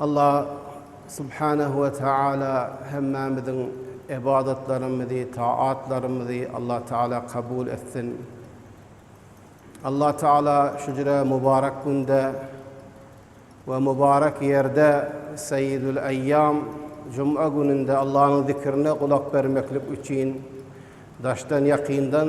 Allah Subhanehu we Teala hemmämiziň ybadatlarymyzy, taatlarymyzy Allah Teala kabul etsin. Allah Teala şu jüre mubarak günde we mubarak ýerde Seyyidül Eyyam Jum'a gününde Allah'yň zikirine gulak bermeklik üçin daşdan ýakyndan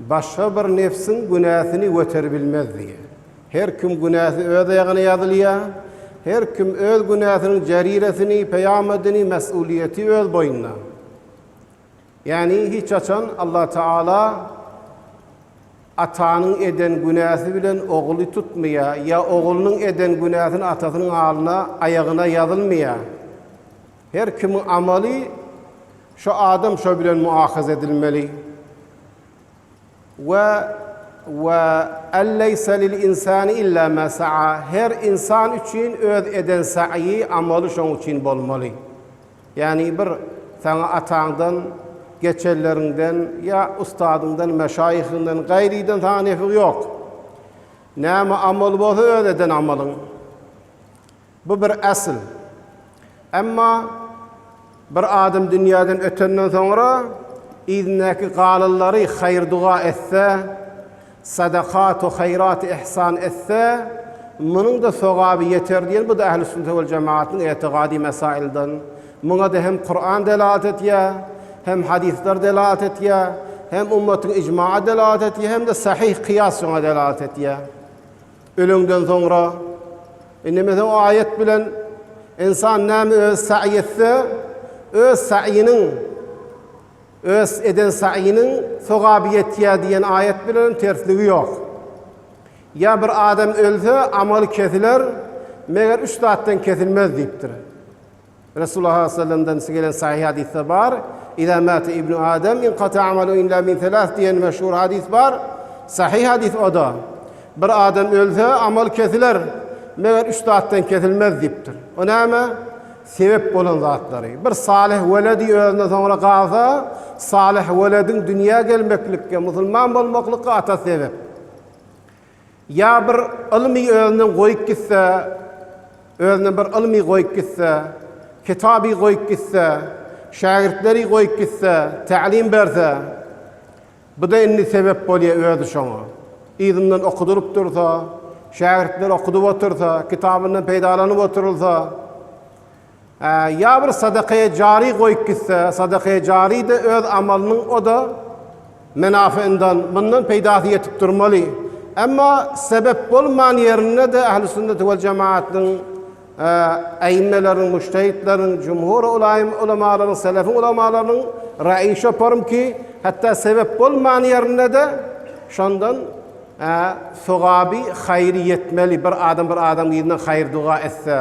Başga bir nebsiň günäsini göteribilmez diýýär. Her kim günäsi öz aýagyna ýazylýar. Her kim öz günäsiniň jariresini, peýamadini, mes'ulyýeti öz boýnuna. Ýagny hiç haçan Allah Taala atanyň eden günäsi bilen oguly tutmaýar, ýa oglunyň eden günäsini atasynyň alyna, aýagyna ýazylmaýar. Her kimiň amaly şo adam şo bilen muahaza edilmeli. We we en leýse lil insani illa ma saa, her insan üçin öz eden saýy, amaly şoň üçin bolmaly. Ýagny bir saňa ataňdan, geçeleriňden ýa ustadyňdan, meşaýyhyňdan, gaýrydan saňa nefi ýok. Näme amaly bolsa öz eden amalyň. Bu bir äsl. Emma bir adam dünýäden ötenden soňra yzyndäki galanlary haýyr-duga etse, sadakaty haýraty ihsan etse, munuň-da sogaby ýeter diýen bu-da ählüssünnete wal jemagatyň etigady mesailden. Muňa-da hem Kuran delalat etýär, hem hadyslar delalat etýär, hem ummatyň ijmagy delalat etýär, hem-de sahyh kyýas şoňa delalat etýär. Öleňden soňra, Indeme sen o aýat bilen Insan näme öz saýy etse, öz saýynyň, öz eden saýynyň sogaby ýetýär diýen aýat bilenem tersligi ýok. Ýa bir adam ölse, amaly kesiler, meger üç zatdan kesilmez diýipdir. Resulullah sallam dan gelen sahyh hadysda bar, Iza mata ibnu Adam inkata amalu inla min selas diýen meşhur hadys bar. Sahyh hadys oda, Bir adam ölse, amaly kesiler, meger üç zatdan kesilmez diýipdir. O näme? Sebep bolan zatlary. Bir salyh weledi özüne soňra galsa, salyh welediň dünýä gelmeklikge, musulman bolmaklyga atasy sebep. Ýa bir ylmy özünden goýup gitse, özünden bir ylmy goýup gitse, kitaby goýup gitse, şägirtleri goýup gitse, tälim berse, bu-da indi sebäp bolýar özi şoňa. Yzyndan okudylyp dursa, şägirtleri okudyp otursa, kitabyndan peýdalanyp oturylsa, Ýa bir sadakaýe jary goýup gitse, sadakaýe jary-da öz amalynyň o-da menafyyndan, mundan peýdasy ýetip durmaly. Emma sebep bolman ýerinde-de Ählüsünneti wal jemaatynyň äimmeleriniň, mujtehitleriň, jumhur ulaýym ulamalaryň, selefiň ulamalarynyň raýy şoparym ki, hatda sebep bolman ýerinde-de şondan sogaby, haýry ýetmeli, bir adam bir adamyzdan haýyr-doga etse.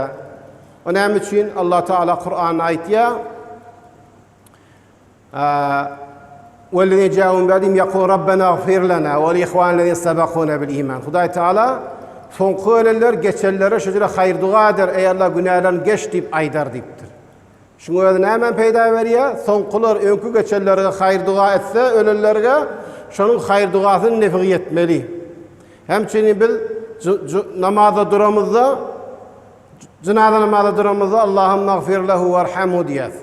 O näme üçin Allah Taala Kuranda aýtýa? Wellezine ja'u min ba'dihim yaqulu rabbena ighfir lana wa li ihwanina sabaquna bil iman. Hudaý Taala soňky ölenler geçenlere şu jüre haýyr duga eder, eý Allah günälerini geç diýip aýdar diýipdir. Şuň özi näme peýda berýär? Soňkular öňki geçenlerge haýyr duga etse ölenlerge şonuň haýyr dugasynyň nefigi ýetmeli. Hem üçin biz namazda duramyzda Jynaza namaza duramyzda Allahümme agfir lehu warhamhu diýýäs.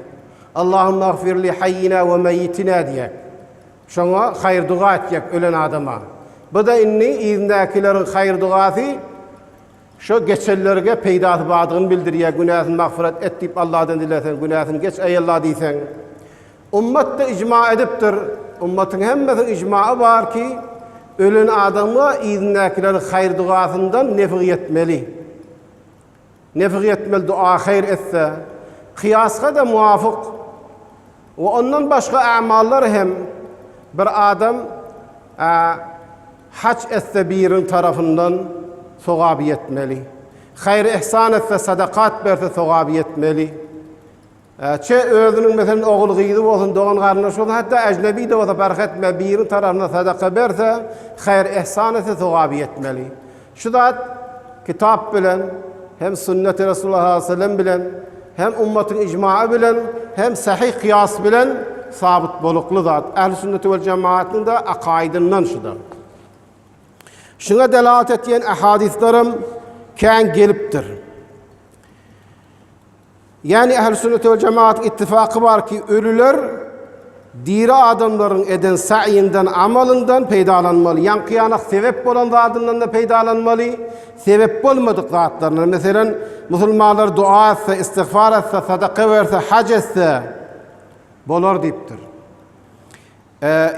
Allahümme agfir li hayyina we meyyitina diýýäs. Şoňa haýyr doga etjek ölen adama. Bu-da indi yzyndakileriň haýyr dogasy şo geçenlerge peýdasy bardygyny bildirýär. Günäsini magfyrat et diýip Allahdan dileseň, günäsini geç eý Allah diýseň. Ummat-da ijma edipdir. Ummatyň hemmesiniň ijmagy bar ki, ölen adamga yzyndäkileriň haýyr-dugasyndan nefig ýetmeli. Nefig ýetmeli dua haýyr etse. Kyýasga-da muwafyk. We ondan başga amallar hem bir adam haç etse biriniň tarapyndan sogaby ýetmeli. Haýyr-yhsan etse, sadakat berse sogaby ýetmeli. Ä-çe özüniň meselen ogul-gyzy bolsun, dogan-garyndaşy bolsun, hatda äjnebi-de bolsa parh etmän biriniň tarapyndan sadaka berse, haýyr-ehsan etse sogaby ýetmeli. Şu zat Kitap bilen, hem Sünneti Resulullah sallallahu aleýhi we sellem bilen, hem ummatyň ijmaý bilen, hem sahyh kyýas bilen sabyt bolukly zat. Ähli Sünneti we Jemaatnyň-da akaýydyndan şuda. Şuňa delalat etýän ahadyslarym kän gelipdir. Ýagny Ähli Sünnet we Jemagat ittifaky bar ki, ölüler diri adamlaryň eden saýyndan, amalyndan peýdalanmaly. Ýaňky-ýanak sebep bolan zadyndan-da peýdalanmaly, sebep bolmadyk zatlaryndan, meselem, musulmanlar doa etse, istigfar etse, sadaka berse, haj etse bolar diýipdir.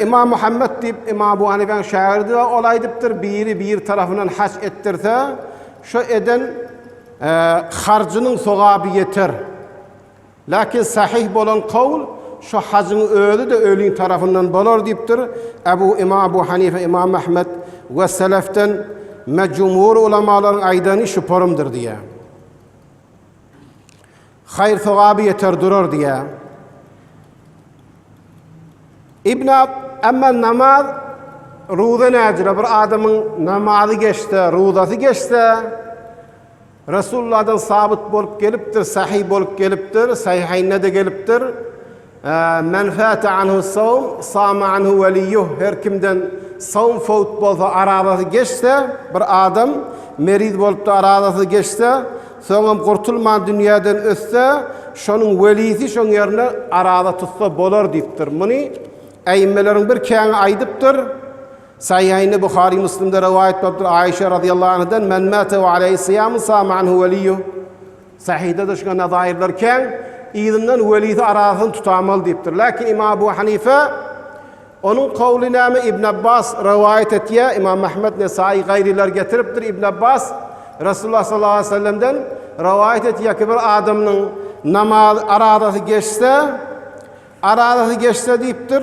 Ymam Muhammet diýip, Ymam Abu Hanifäň şägirdi bar, ol aýdypdyr, biri bir tarapyndan haç etdirse, şo eden harjynyň sogaby ýeter. Lakin sahyh bolan kawl, şo hajyň özi-de öliň tarapyndan bolar diýipdir. Abu Ymam Abu Hanife, Ymam Ahmet we selefden me jumhur ulamalaryň aýdany şu porumdyr diýýär. Haýyr-sogaby ýeter durar diýýär. Ibn Ab, Emma namaz, roza nädire? Bir adamyň namazy geçse, rozasy geçse, Resullahdan sabyt bolup gelipdir, sahyh bolup gelipdir, Saýhaýnde-de gelipdir, Men fäte anhu sawm, sama anhu weliýuh, her kimden sawm fowt bolsa, arazasy geçse, bir adam meriz bolup-da arazasy geçse, soňam gurtulman dünýäden ötse, şonuň welisi şoň ýerine araza tutsa bolar diýipdir. Muny äimmeleriň bir käňi aýdypdyr. Saýyhaýnda Buhary, Müslimde rowaýat bolupdyr, Aişa razyýallahu anhadan, Men mäte we aleýhi syýamun, sama anhu weliýuh. Sahyda da şuňa nazairler kän, yzyndan Welidi arasyny tutamaly diýipdir. Lakin Imam Abu Hanife, Onuň kowly näme? Ibn Abbas rowaýat etýär, Imam Ahmet, Nesaýy, gaýrylar getiripdir, Ibn Abbas Resulullah sallallahu aleýhi we sellemden rowaýat etýär ki, bir adamynyň namaz, arazasy geçse, arazasy geçse diýipdir,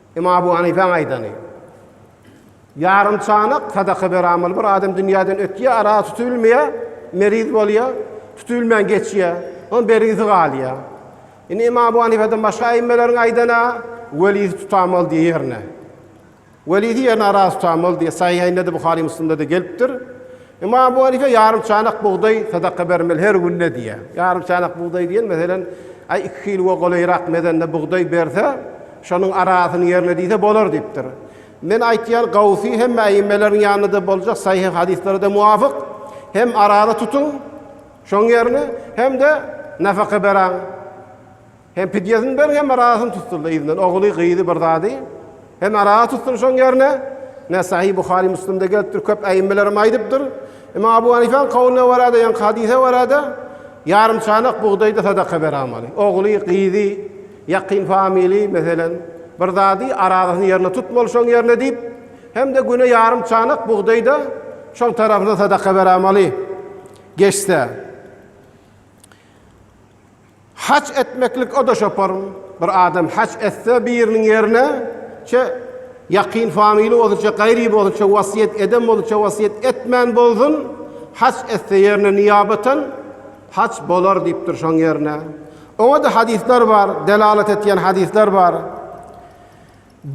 Ymam Abu Hanyfäň aýdany, Ýarym çanak sadaka beramaly bir adam dünýäden ötýär, aragy tutubilmeýär, meriz bolýar, tutubilmän geçýär, onuň bergisi galýar. Indi Ymam Abu Hanyfeden başga aýymmalaryň aýdana, Welisi tutamaly diýýär ýerine. Welisi ýerine aragy tutamaly diýýär. Sahyhaýnda-da, Buhary-Müslimde-de gelipdir. Emma Abu Hanife ýarym çanak bugdaý sadaka bermeli her günde diýýär. Ýarym çanak bugdaý diýen meselem aý iki kiloga golaýrak mezende bugdaý berse, şonuň arasyny ýerine diýse bolar diýipdir. Men aýtýan gawsy hemme äimmeleriň ýanynda-da boljak saýyh hadyslary-da muwafyk, hem arany tutuň şoň ýerine, hem-de nafaka beräň. Hem pidýesini ber, hem arasyny tutdurdy yzyndan ogly, gyzy bir zady, hem arasy tutdurdy şoň ýerine. Nesaýy, Buhary, Müslimde gelipdir, köp äimmelerem aýdypdyr. Imam Abu Hanifäň kowlyna görä-de, ýaňky hadysa görä-de, ýarym çanak bugdaýda sadaka beramaly. Ogly, gyzy, ýakyn family, meselem, bir zady, arasyny ýerine tutmaly şoň ýerine diýip, hem-de güne ýarym çanak bugdaýda şoň tarapyna sadaka beramaly geçse. Haç etmeklik o-da şopar. Bir adam haç etse biriniň ýerine, çe, ýakyn familýa bolsun, çe gaýry bolsun, çe wasýet eden bolsun, çe wasýet etmän bolsun, haç etse ýerine niýabatan haç bolar diýipdir şoň ýerine. Oňa-da hadyslar bar, delalat etýän hadyslar bar.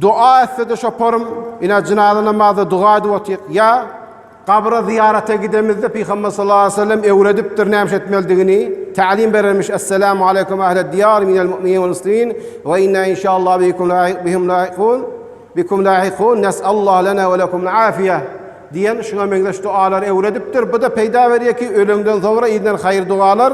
Doga etse-de çoparym, ine, jynaza namazda doga edip otyk. Ýa, gabra zyýarata gidemizde Pygamber sallallahu aleýhi we sellem öwredipdir nämiş etmelidigini, tälim berermiş, Esselamu aleýkum ählet diýar minel mu'minin wal muslimin we inna inşallah bikum lahiq bihim lahiqun bikum lahiqun nes'allah lena we lekumul afiýe diýen şuňa meňzeş dogalary öwredipdir. Bu-da peýda berýär ki, öleňden soňra edinen haýyr-dogalar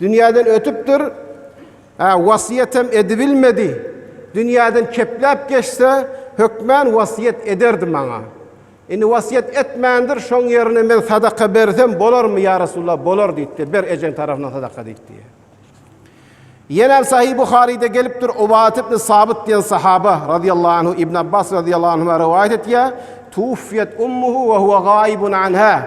Dünýäden ötüpdir, hä, wasýetem edibilmedi. Dünýäden kepläp geçse, hökmän wasýet ederdi maňa. Indi wasýet etmändir, şoň ýerine men sadaka bersem bolarmy, ýa Resulallah? Bolar diýipdir. Ber ejeň tarapyndan sadaka diýipdir. Ýene hem Sahyh Buharyda gelipdir, Ubadat ibn Sabyt diýen sahaba radiyallahu anhu Ibn Abbas radiyallahu anhuma rowaýat etýär, Tuwfiyet ummuhu we huwa gaibun anha.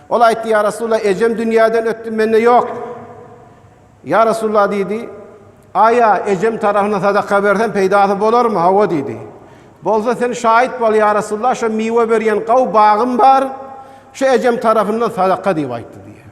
Ol aýtdy, Ýa Resulallah, ejem dünýäden ötdi, mende ýok. Ýa Resulallah diýdi, Aýa, ejem tarapyndan sadaka bersem peýdasy bolarmy? Hawa diýdi. Bolsa sen şaýyt bol, ýa Resulallah, şu miwe berýän gaw bagym bar, şu ejem tarapyndan sadaka diýip aýtdy diýýär.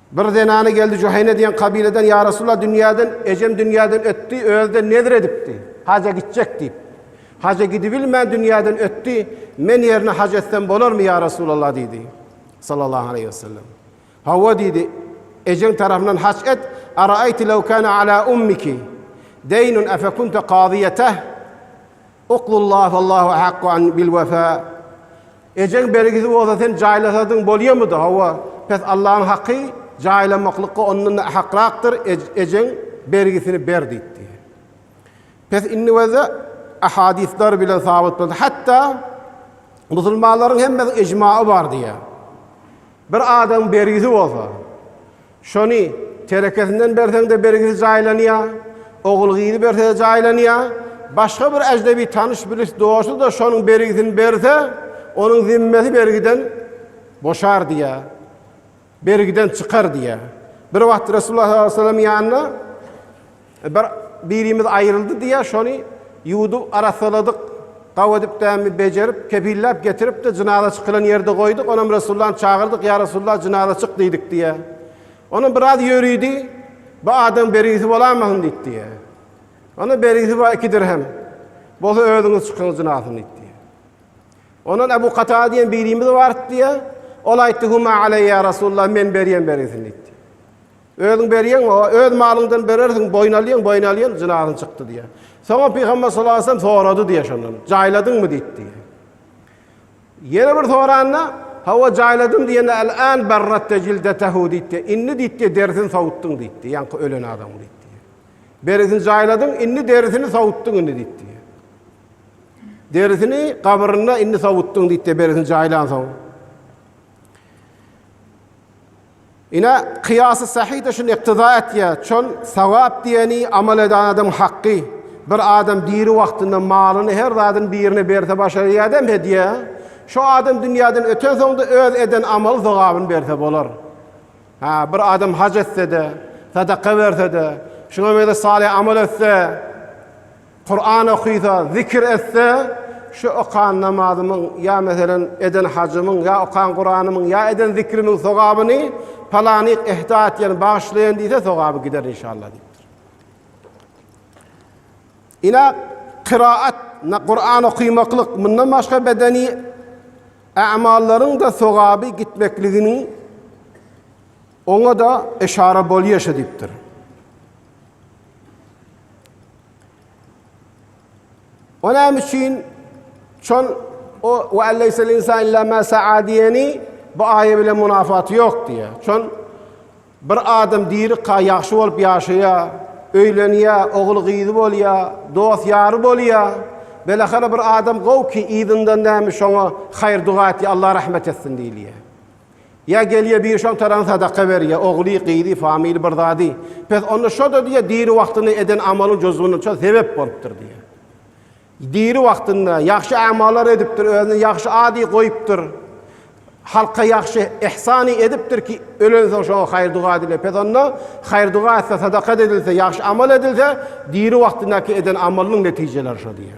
Bir zenany geldi, Juheýne diýen kabileden, Ýa Resulallah, dünýäden, ejem dünýäden ötdi, özi-de nezir edipdi, haja gitjek diýip. Haja gidibilmän dünýäden ötdi, men ýerine haj etsem bolarmy, ýa Resulallah diýdi. Sallallahu aleýhi we sellem. Hawa diýdi, ejeň tarapyndan haj et, Araýti lew kana ala ummiki deýnun afa kunta kazyýeteh? Uklullah wallahu ahakku an bil wefa. Ejeň bergisi bolsa sen jaýlasadyň bolýamydy, hawa, pes Allanyň haky jaýlamaklykga ondan-da ahakrakdyr, ejeň bergisini ber diýipdi. Pes indi bolsa ahadyslar bilen sabyt boldy, hatda musulmanlaryň hemmesiniň ejmaý bar diýýär. Bir adamyň bergisi bolsa, şony terekesinden berseň-de bergisi jaýlanýar, ogul-gyzy berse-de jaýlanýar, başga bir ejnebi tanyş-bilis dosty-da şonuň bergisini berse, onuň zimmesi bergiden boşar diýýär, bergiden çykar diýýär. Bir wagt Resulullah sallallahu aleyhi ve sellem ýanyna Bir birimiz aýryldy diýýä şony ýuwdup arassaladyk gawy edip dämi bejerip kepilläp getiripdi jynaza çykylan ýerde goýduk onam resullany çagyrdyk ýa resulla jynaza çyk diýdik diýýä onam biraz ýörüdi bu adam bergisi bolamasyn diýip diýýä onam bergisi bar iki dirhem bolsa özüňiz çykyň jynazasyny diýip diýýä ondan ebu katada diýen birimiz barypdy diýýä ol aýtdy huma aleýa resulla men berýän bergisini diýipdi. Özüň berýäň, öz malyňdan berersiň, boýun alýaň, boýun alýan, jynazyň çykdy diýýär. Soňam Pygamber sallallahu aleyhi ve sellem sorady diýýär şondan. Jaýladyňmy diýdi diýýär. Ýene bir soranda, hawa jaýladym diýende al-an barratta jildetehu diýdi. Indi diýdi derisini sowutdyň diýdi. Ýaňky ölen adamyň diýdi. Derisini jaýladyň, indi derisini sowutdyň indi diýdi. Derisini gabrynda indi sowutdyň diýdi, derisini jaýlan soň. Ine, kyýasy sahyh-da şuny yktyza etýär, çün sogap diýeni amal eden adamyň hakgy. Bir adam diri wagtynda malyny, her zadyny birine berse başar ýadam hedýe, şo adam dünýäden ötensoň-da öz eden amaly sogabyny berse bolar. Hä, bir adam haj etse-de, sadaka berse-de, şuňa meňzeş salyh amal etse, Kuran okysa, zikir etse, şu okan namazymyň ýa meselem eden hajymyň ýa okan Kuranymyň ýa eden zikrimiň sogabyny palanyk ehda etýän, bagyşlaýan diýse sogaby gider inşallah diýipdir. Ina kyraat, Kuran okymaklyk, mundan başga bedeni amallaryň-da sogaby gitmekligini oňa-da eşara bolýar şo diýipdir. O näme üçin şol o we alleysel insan illa ma sa'a diýeni bu aýa bilen munafaty ýok diýýär. Şol bir adam diri ka ýagşy bolup ýaşaýar, öýlenýär, ogul gyzy bolýar, dost ýary bolýar. Belahara bir adam gow ki, yzyndan näme şoňa haýyr duga etýär, Allah rahmet etsin diýilýär. Ýa gelýä biri şoň tarany sadaka berýä, ogly, gyzy, family bir zady. Pes onda şo-da diýýä diri wagtynda eden amalyň jozguna şo sebep bolupdyr diýýä. Diri wagtynda ýagşy amalar edipdir, özüne ýagşy ady goýupdyr. Halka ýagşy ihsany edipdir ki, ölensoň şoňa haýyr-duga edilýär. Pes onda haýyr-duga etse, sadaka edilse, ýagşy amal edilse, diri wagtyndaky eden amalynyň netijeleri şo diýýä.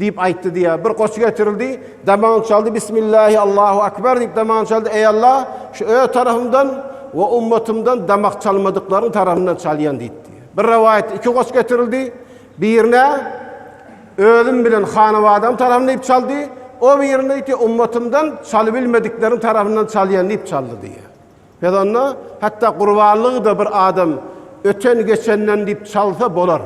Diýip aýtdy diýýär. Bir goçy getirildi. Damagyny çaldy. Bismillahi Allahu Akbar diýip damagyny çaldy. Eý Alla, şu öz tarapymdan we ummatymdan damak çalmadyklaryň tarapyndan çalýan diýipdi. Bir rowaýatda iki goç getirildi. Birine özüm bilen hanabadam tarapyndan diýip çaldy. O birine diýdi, ummatymdan çalybilmedikleriň tarapyndan çalýan diýip çaldy diýýär. Biz onda hatda gurbanlygy-da bir adam öten-geçenden diýip çalsa bolar.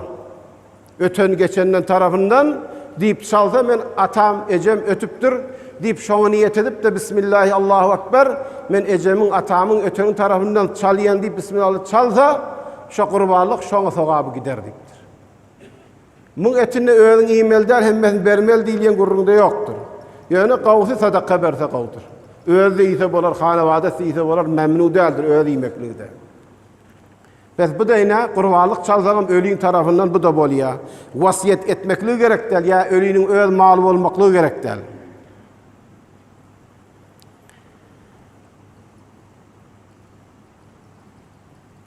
Öten-geçenden tarapyndan, diýip çalsa, men atam, ejem ötüpdir, diýip şoňa niýet edip-de, Bismillahi Allahu Ekber, men ejemiň, atamyň öteni tarapyndan çalýan diýip Bismillallah çalsa, şo gurbanlyk şoňa sogaby gider diýipdir. Muň etini özüň iýmeli däl, hemmesini bermeli diýilýän gürrüňde ýokdur. Ýöne gowusy sadaka berse gowudyr. Özi-de iýse bolar, hanabadasy iýse bolar, mämnu däldir özi iýmeklige-de. Bes bu deýin-ä, gurbanlyk çalsagam ölin tarapyndan bu-da bolýa. Wasýet etmeklige gerek däl, ýa öliniň öz maly bolmaklygy gerek däl.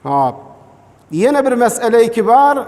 Hop. Ýene bir mesele-i kibar,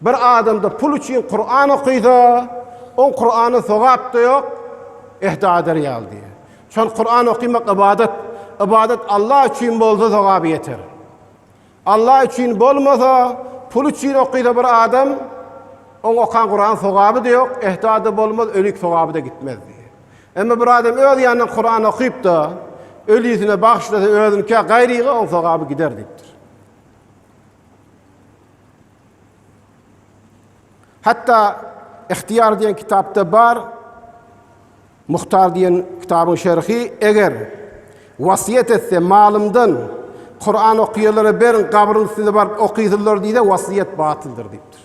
Bir adamda pul üçin Kuran okysa, oň Kurana sogap-da ýok, ehda eder ýaly diýýär. Şol Kuran okymak ybadat. Ybadat Allah üçin bolsa sogaby ýeter. Allah üçin bolmasa, pul üçin okysa bir adam, oň okan Kuran sogaby-da ýok, ehda-da bolmaz, ölik sogaby-da gitmez diýýär. Emma bir adam öz ýanyndan Kuran okyp-da, ölisine bagyşlasa özünikä gaýryga oň sogaby gider diýipdir. Hatda Ihtiýar diýen kitapda bar, Muhtar diýen kitabyň şerhi, eger wasýet etse, malymdan Kuran okaýanlara beriň, gabryň üstünde baryp okysyzlar diýse, wasýet batyldyr diýipdir.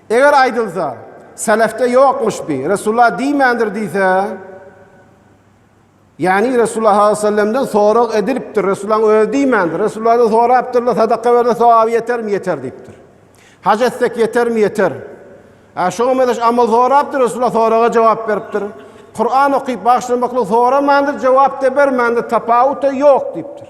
Eger aýdylsa, Selefde ýokmuş bi, Resulullah diýmändir diýse, ýagny Resulullah sallallahu aleyhi ve sellemden sorag edilipdir, Resulullahyň özi diýmändir, Resulullahdan sorapdyrlar, sadaka berse sogaby ýetermi, ýeter diýipdir. Hac etsek ýetermi, ýeter. Ä şoňa mezeş amal sorapdyr, Resulullah soraga jogap beripdir. Kur'an okyp bagşlamaklyk soramandyr, jogap da bermändir, tapawut da ýok diýipdir.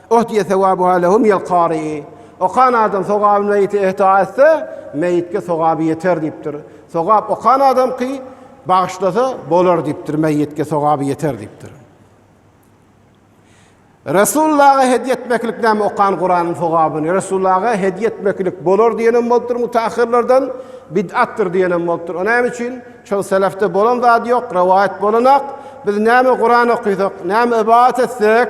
Uhdiýe sewabuha lehum ýel kari. Okan adam sogaby meýite ihda etse, meýitge sogaby ýeter diýipdir. Sogap okan adamky bagyşlasa bolar diýipdir, meýitge sogaby ýeter diýipdir. Resulullaha hediýe etmeklik näme okan Kuranyň sogabyny Resulullaha hediýe etmeklik bolar diýenem bolupdyr mutahhirlerden, bid'atdyr diýenem bolupdyr. O näme üçin? Şol selefde bolan zat ýok, rowaýat bolanak. Biz näme Kuran okasak, näme ybadat etsek,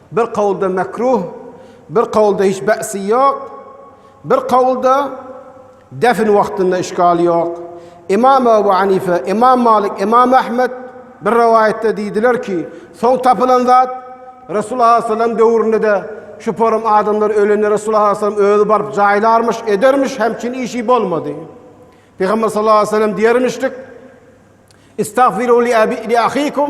Bir kawulda mekruh, bir kawulda hiç bäsi ýok, bir kawulda defn wagtynda işgal ýok. Ymam Abu Hanife, Ymam Malik, Ymam Ahmet bir rowaýatda diýdiler ki, soň tapylan zat Resulullah sallallahu aleýhi weselem döwründe-de şu porum adamlar ölende Resulullah sallallahu aleýhi weselem özi baryp jaýlarmyş, edermiş, hemçin işi bolmady. Pygamber sallallahu aleýhi weselem diýermişdik, Istagfiru li ahikum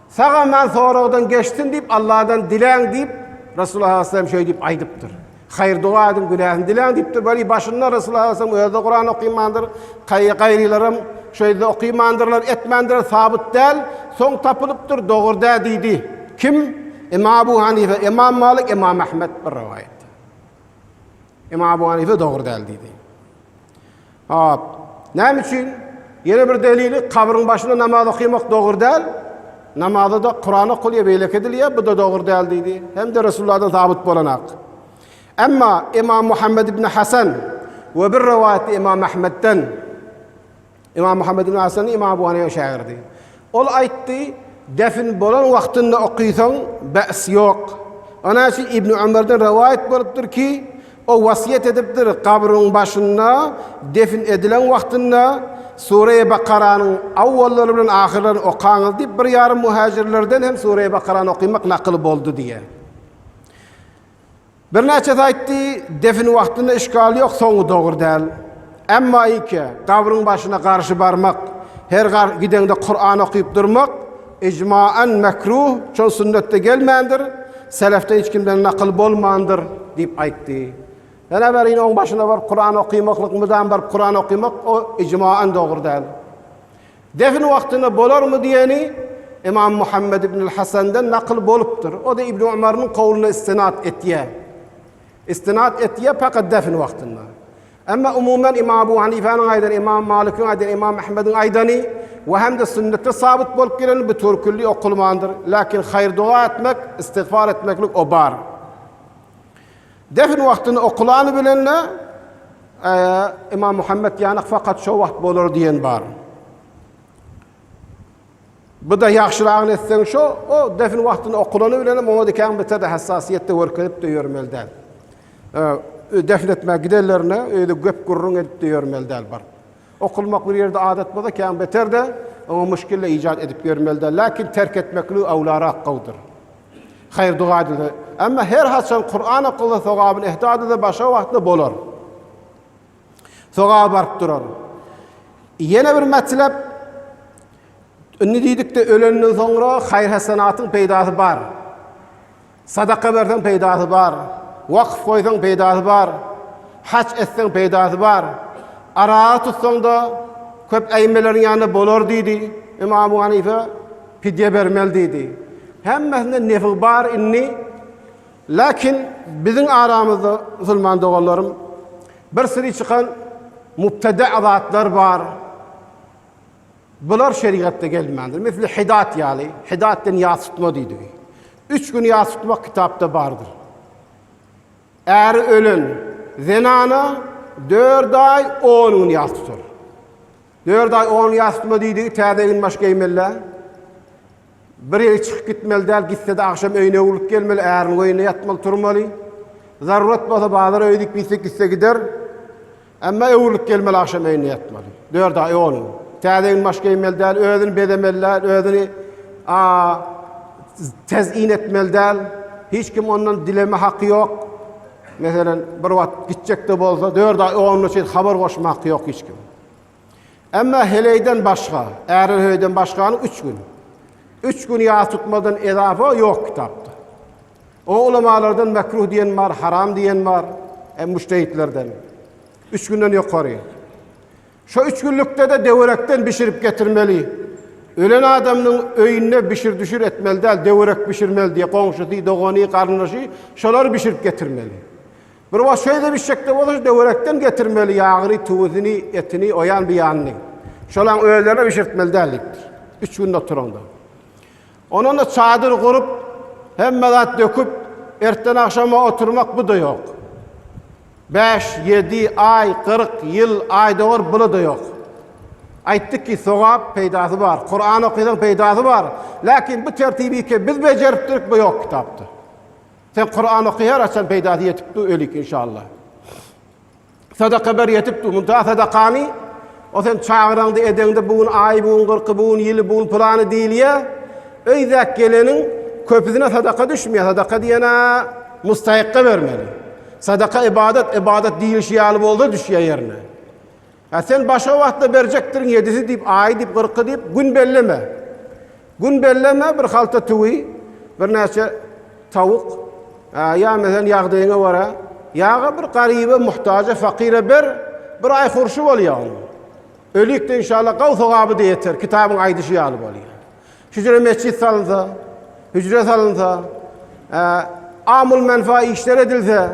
Sagaman soragdan geçsin diýip Alladan diläň diýip Resulullah sallallahu aleyhi ve sellem şeýle diýip aýdypdyr. Haýyr doga ediň günäsini diläň diýipdir. Weli başynda Resulullah sallallahu aleyhi ve sellem özi Kuran okymandyr. Kaýy gaýrylaram şeýde okymandyrlar, etmändirler, sabyt däl. Soň tapylypdyr, dogry dä diýdi. Kim? Imam Abu Hanife, Imam Malik, Imam Ahmet bir rowaýatda. Imam Abu Hanife dogry däl diýdi. Hop. Näme üçin? Ýene bir delili kabryň başynda namaz okaýmak dogry däl. Namazda-da Kuran okalýar, beýleki edilýär, bu-da dogry däl diýdi. Hem-de Resulullahdan sabyt bolanhak. Emma Ymam Muhammet ibn Hasan we bir rowaýatda Ymam Ahmetden, Ymam Muhammet ibn Hasan Ymam Abu Hanyfanyň şägirdi. Ol aýtdy, Depin bolan wagtynda okaýsaň, bäs ýok. Ana şu Ibni Ömerden rowaýat bolupdyr ki, o wasýet edipdir, gabryň başynda, depin edilen wagtynda, Sureýi Bakaranyň awwallary bilen ahyrlaryny okaňyz diýip, bir ýarym muhajirlerden hem Sureýi Bakarany okaýmak nakyl boldy diýýär. Birnäçesi aýtdy, Defin wagtynda işgal ýok, soňy dogry däl. Emma ýeke, gabryň başyna garşy barmak, her gideňde Kuran okyp durmak, ijmaen mekruh, şol sünnetde gelmändir, selefden hiç kimden nakyl bolmandyr, diýip aýtdy. Ýene biri, Ine, oň başyna baryp Kuran okymaklyk, mydam baryp Kuran okymak, o ijmaen dogry däl. Defin wagtyna bolarmy diýeni Ymam Muhammet ibnül Hasandan nakyl bolupdyr. O-da Ibn Umarynyň kowluna istinad etýär. Istinad etýär pakat defin wagtyna. Emma umuman Ymam Abu Hanifäniň aýdany, Ymam Malikiň aýdany, Ymam Ahmediň aýdany we hem-de sünnetde sabyt bolup geleni bu türkülli okulmandyr. Lakin haýyr-doga etmek, istigfar etmeklik o bar. Defin wagtyny okulany bilen-le, Imam Muhammet ýanyk fakat şo wagt bolar diýen bar. Bu-da ýagşyragyny etseň şo, o defin wagtyny okulany bilen-le muňa dikäň biter-de hassasiýet-de görkezip-de ýörmeli däl. Defin etmäge gidenlerine öýde gep-gürrüň edip-de ýörmeli däl bir. Okylmak bir ýerde adat bolsa kän beter-de, oňa muşgille ijat edip ýörmeli-dä, läkin terk etmeklik öwlarak gowudyr. Haýr-doga edilse, emma her haçan Kuran okylsa sogabyny ehda edilse başga wagtda bolar. Sogaba baryp durar. Ýene bir metlep, indi diýdik-de, ölenden soňra haýr-hasanatyň peýdasy bar. Sadaka berseň peýdasy bar, wakf goýsaň peýdasy bar, haç etseň peýdasy bar, arag tutsaň-da köp äýmeleriň ýanynda bolar diýdi, Ymam Hanife pidýe bermeli diýdi. Hemmesinde nefi bar indi. Lakin biziň aramyzda musulman doganlarym bir siri çykan mubteda zatlar bar. Bular şerigatda gelmändir. Misli Hidat ýaly, Hidat diýen ýas tutma diýdigi. Üç gün ýas tutmak kitapda bardyr. Äri ölen zenana dört aý on gün ýas tutar. Dört aý on ýas tutma diýdigi täze gün baş geýmelä. Bir ýere çykyp gitmeli däl, gitse-de agşam öýüne öwrülip gelmeli, äriniň öýünde ýatmaly, turmaly. Zarurat bolsa bazar öýi diýip gitse, gitse gider. Emma öwrülip gelmeli, agşam öýünde ýatmaly. Dört aý on gün. Täze egin-baş geýmeli däl, özüni bezemeli däl, özüni tez-in etmeli däl. Hiç kim ondan dileme haky ýok. Meselem, bir wagt gitjek-de bolsa, dört aý on güne çenli habar goşmak ýok hiç kim. Emma heleýden başga, äre höýden başgany üç gün. Üç gün ýas tutmadan edafa ýok kitapda. O ulamalardan mekruh diýen bar, haram diýen bar, e, müştehitlerden. Üç günden ýokary. Şo üç günlükde-de döwerekden bişirip getirmeli. Ölen adamynyň öýünde bişir-düşür etmeli däl, döwerek bişirmeli diýe, goňşusy, dogany, garyndaşy şolar bişirip getirmeli. Bir wagt şeýle bişekde bolsa şu döwerekden getirmeli ýagyny, tuwuzyny, etini, oýan biýanyny. Şolaň özlerine bişirtmeli däl diýipdir. Üç günde oturaňda. Onanda çadyr gurup, hemme zat döküp, ertden agşama oturmak bu-da ýok. Bäş, ýedi, aý, kyrk, ýyl, aýdogr bula-da ýok. Aýtdyk ki, sogap, peýdasy bar. Kuran okaýsaň peýdasy bar. Läkin bu tertibi ki, biz bejeripdirik, bu ýok kitapda. Sen Kuran oky her açan peydasy yetip du ölik inşallah. Sadaka ber yetip du munta sadakany o sen çagyraňda edeňde bu gün ay bu gün gyrky bu gün yili bu gün pylany diýilýä. Öýdäk geleniň köpüsine sadaka düşmeye sadaka diýene mustahakka bermeli. Sadaka ibadet ibadet diýilişi ýaly bolsa düşýä ýerine. Hä, sen başga wagtda berjekdirin ýedisi diýip, aýy diýip, gyrky diýip, gün belleme. Gün belleme, bir halta tüwi, birnäçe tawuk, hä, ýa meselem ýagdaýyňa görä, ýa-a bir garyba, muhtaja, fakyra ber, bir aý hurşy bolýa onuň. Ölik-de inşallah gawy sogaby-da ýeter, kitabyň aýdyşy ýaly bolýa. Hüjre metjit salynsa, hüjre salynsa, hä, amul-menfa işler edilse,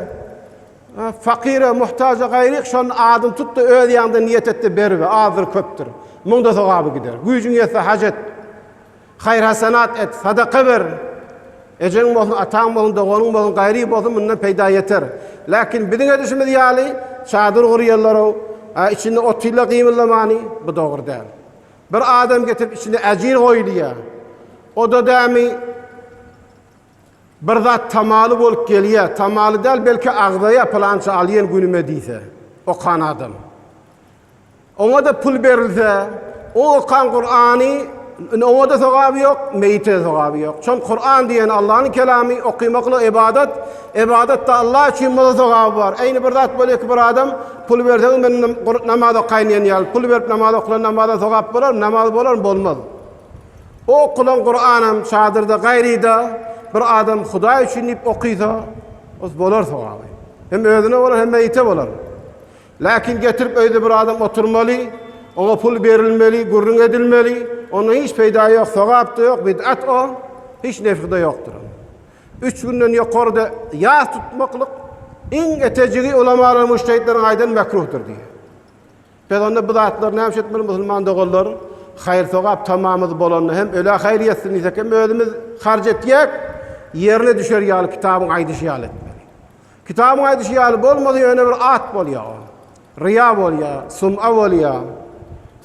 Fakyra, muhtaja gaýryk şony adyny tut-da, öz ýanyňda niýet et-de bergi, azdyr, köpdür, muňda sogaby gider. Güýjüň ýetse, haj et, haýyr-hasanat et, sadaka ber. Ejeň bolsun, ataň bolsun, doganyň bolsun, gaýry bolsun, mundan peýda ýeter. Lakin biziň edişimiz ýaly çadyr gurýarlar-ow, içinde otyrlar gymyldamany, bu dogry däl. Bir adam getirip içine äjir goýulýar. O-da dämi Bir zat tamaly bolup gelýä, tamaly däl, belki agzaýa pylança alýan günüme diýse, okan adam. Oňa-da pul berilse, o okan Kurany, oňa-da sogaby ýok, meýite-de sogaby ýok. Şol Kuran diýen Allanyň kelamy, okymakla ybadat, ybadat-da Allah üçin bolsa sogaby bar. Eýni bir zat bolýar ki, bir adam, pul berseňiz men namaz okaýyn diýen ýaly, pul berip namaz okalan namaza sogap bolarmy, namaz bolarmy, bolmaz. O okulan Kuranam çadyrda gaýryda bir adam Hudaý üçin diýip okysa, os bolar sogaby. Hem özüne bolar, hem meýite bolar. Läkin getirip öýde bir adam oturmaly, oňa pul berilmeli, gürrüň edilmeli, ondan hiç peýda ýok, sogap-da ýok, bid'at o, hiç nefhi-de ýokdur. Üç günden ýokaryda ýas tutmaklyk iň etejigi ulamalar-mujtehitleriň aýdan mekruhdyr diýýär. Biz onda bu zatlary nämeşe etmeli musulman doganlar? Haýyr sogap tamamyz bolanda hem ölä haýyr ýetsin diýsek hem özümiz harç etjek ýerine düşer ýaly kitabyň aýdyşy ýaly etmeli. Kitabyň aýdyşy ýaly bolmasa ýöne bir at bolýar ol. Ryýa bolýar, sum'a bolýar.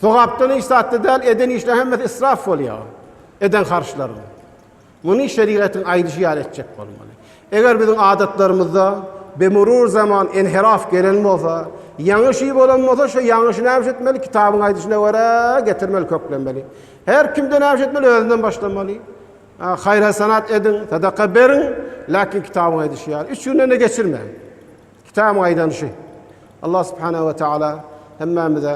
Sogapdan hiç zatda däl eden işleriň hemmesi israf bolýar. Eden harçlaryň. Muny şerigatyň aýdyşy ýaly etjek bolmaly. Eger biziň adatlarymyzda bimurur zaman inhiraf gelen bolsa, ýaňyş i bolan bolsa, şo ýaňyşy nämiş etmeli? Kitabyň aýdyşyna görä, getirmeli, köklenmeli. Her kim-de nämiş etmeli? Özünden başlamaly. A, haýr-hasanat ediň, sadaka beriň, läkin kitabyň aýdyşy ýaly, üç günden-de geçirmäň. Kitabyň aýdan şy. Allah subhanahu we taala hemmämize